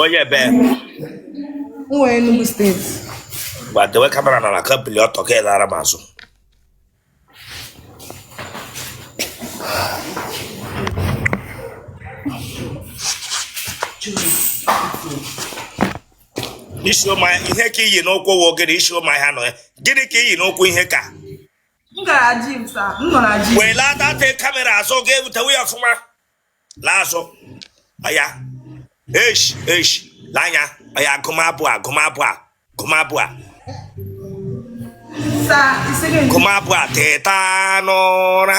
onye ebe nwa Enugu State gbadewe kamera na na kampili ọtọ ka ịlara m azụ isi ụmụ ihe ka i yi n'ụkwụ wụ gịnị isi ụmụ ahịa nọ ya gịnị ka i yi n'ụkwụ ihe ka m gara gym sir m nọ na gym welaa that kamera azụ ka m hụtawe ya ọfụma laa azụ ọya esh esh laa anya ọya agụmabụ a agụmabụ a agụmabụ a sa isi gị nke gụmabụ a teta n'ụra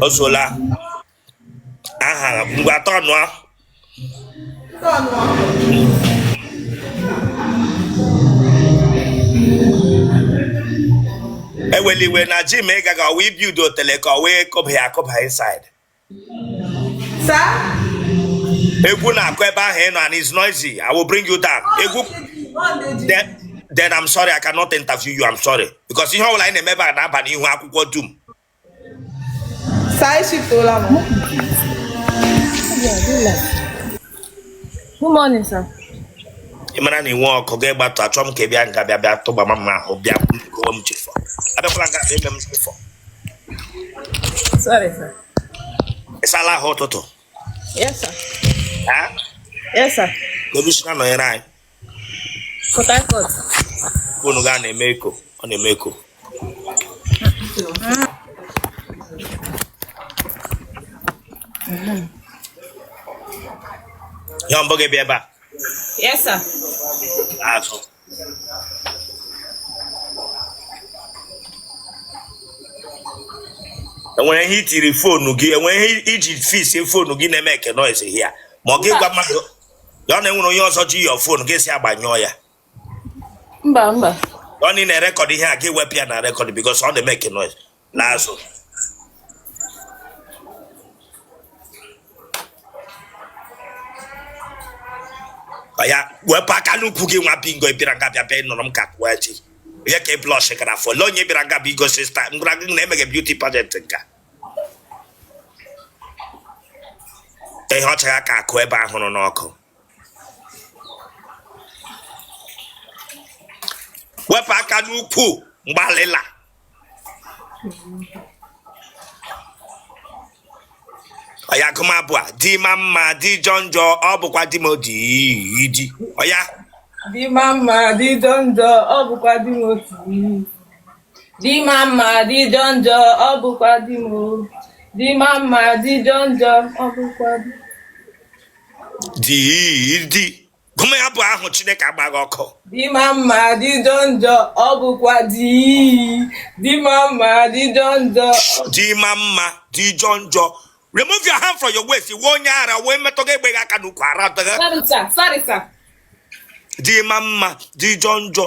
o sola aha mgbe atọ nụọ eweliwe na gym ị gaghị ọwa ibi udo tele ka ọ wee kụba ya akụba inside egwu na-akụ ebe ahụ ị nọ and is noisy i will bring you down egwu then i'm sorry i cannot interview you i'm sorry because ihe ọbụla anyị na-eme ebe a na-aba n'ihu akwụkwọ dum Good morning, sir. ị mara na i nwee ọkụ gị gbatụ achọ m ka ị bịa nga bịa bịa tụgba m mma ahụ bịa gụọ m chief o abịakwala nga bịa eme m chief o Sorry, sir. ị sala ahụ ụtụtụ Yes, sir. ha Yes, sir. kedu i si na-anọnyere anyị Port Harcourt. Fonu gị a na-eme echo, ọ na-eme echo. Ya mbọ gị bịa ebe a. Yes, sir. Azụ. enwere ihe i tiri fonu gị enwere ihe i ji fix fonu gị na-emeke noise hia ma ọ gị gwa mmadụ ya na enwere onye ọzọ ji your phone gị sị ya gbanyụọ ya mba mba ọ na ị na-erecord ihe a gị wepụ ya na record because ọ na-emeke noise n'azụ ya wepụ aka n'ukwu gị nwa bingo bịara nga bịa bịa ịnụrụ m ka kụwa chi onye ka ị blush gara afọ lee onye bịara nga bụ igosi sta m gwara gị na emeghị beauty pageant nka ihe ọcha ya ka akụ ebe ahụrụ n'ọkụ wepụ aka n'ukwu mgbalịla oya gụma abụ a di ma mma di jọ njọ ọ bụkwa di m o di di oya di ma mma di jọ njọ ọ bụkwa di m otu Di ma mma di jọ njọ ọ bụkwa di m o. Di ma mma di jọ njọ ọ bụkwa di m. di di gụma ya abụ ahụ chineke agba gị ọkụ Di ma mma di jọ njọ ọ bụkwa di. Di ma mma di jọ njọ o di ma mma di jọ njọ remove your hand from your waist ị wụ onye ara wee metọ gị egbe gị aka n'ukwu ara dịghị Sorry sir, sorry sir. di ma mma di jọ njọ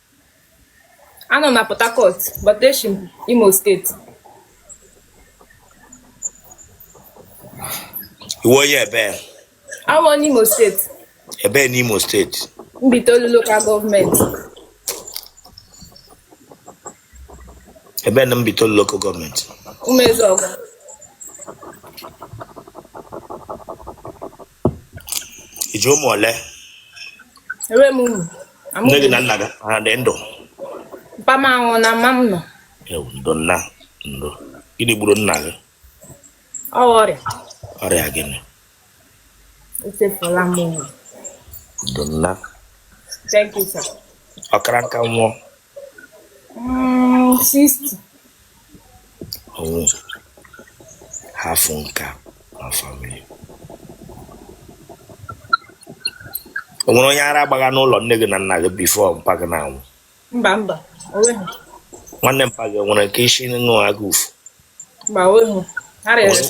anọ na Port Harcourt but eshi m Imo State ị wụ onye ebee awụ m Imo State ebee n'Imo State Mbitolu local government ebee na Mbitolu local government Umezuọgụ i ji ụmụ ole enwe m uru nne gị na nna gị ha dị ndụ papa m anwụọna mma m nọ ewu ndo nna ndo gịnị gburu nna gị ọ ọrịa ọrịa gịnị echefula m uru ndo nna thank you sir ọ kara nka nwụọ Mm, 60. ọnwụ hafụ nka na family o nwere onye ara gbagha n'ụlọ nne gị na nna gị before mpa gị na-anwụ Mba mba. O nwehu. nwanne mpa gị nwere nke isi na-afụ ụfụ Mba o nwehu. Ha rịrị.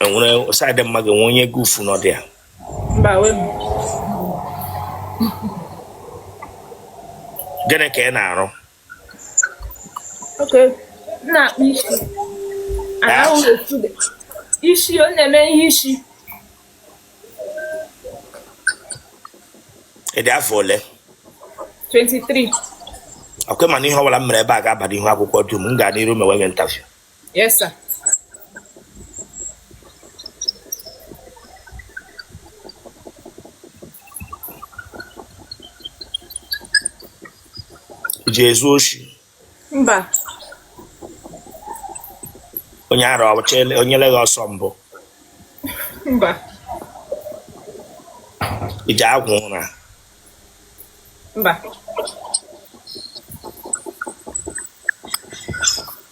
enwere side mma gị nwe onye gị ufu nọ dị ya gịnị ka ị na-arụ isi ọ na-eme ihe isi ị dị afọ ole 23 ọkwa ị ma na ihe ọ bụla m mere ebe a ga-aba n'ihu akwụkwọ dum m ga n'iru mewe gị interview Yes, sir. i ji ezu oshi mba onye ara onyere gị ọsọ mbụ mba i ji agwụ ụra mba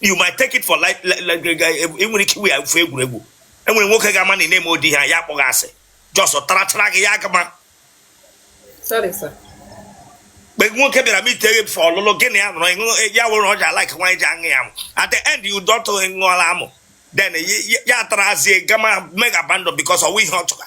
you might take it for like enwere ike iwe ya ofu egwuregwu enwere nwoke ga-ama na ị na-eme ụdị ha ya akpọghị asị just tarachara gị ya gama mgbe nwoke bịara meet gị for ọlụlụ gị na ya nọrọ ịṅụ ya wụrụ ọja like nwaanyị ji aṅụ ya amụ at the end you don't ṅụọla amụ then ya tarazie gama mee gị abandon because ọ wụ ihe ọ chọga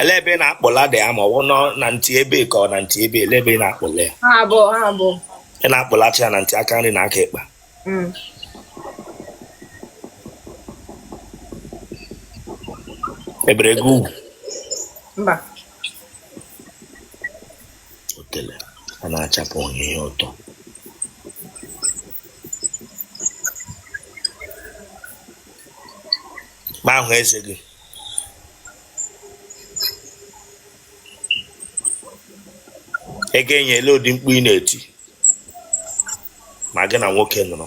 ele ebe ị na-akpọla dị ama ọ wụ nọ na ntị ebe ka ọ na ntị ebe ele ebe ị na-akpọla ya Ha abụọ, ha abụọ. ị na-akpọlacha ya na ntị aka nri na aka ekpa Mm. ebere gị ugwu Mba. otele a na-achapụ ihe ụtọ ma ahụ eze gị ị ga-enye ele ụdị mkpu ị na-eti ma gị na nwoke nọrọ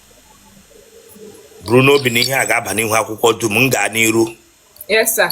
buru n'obi na ihe a ga-aba n'ihu akwụkwọ dum m gaa n'iru Yes, sir.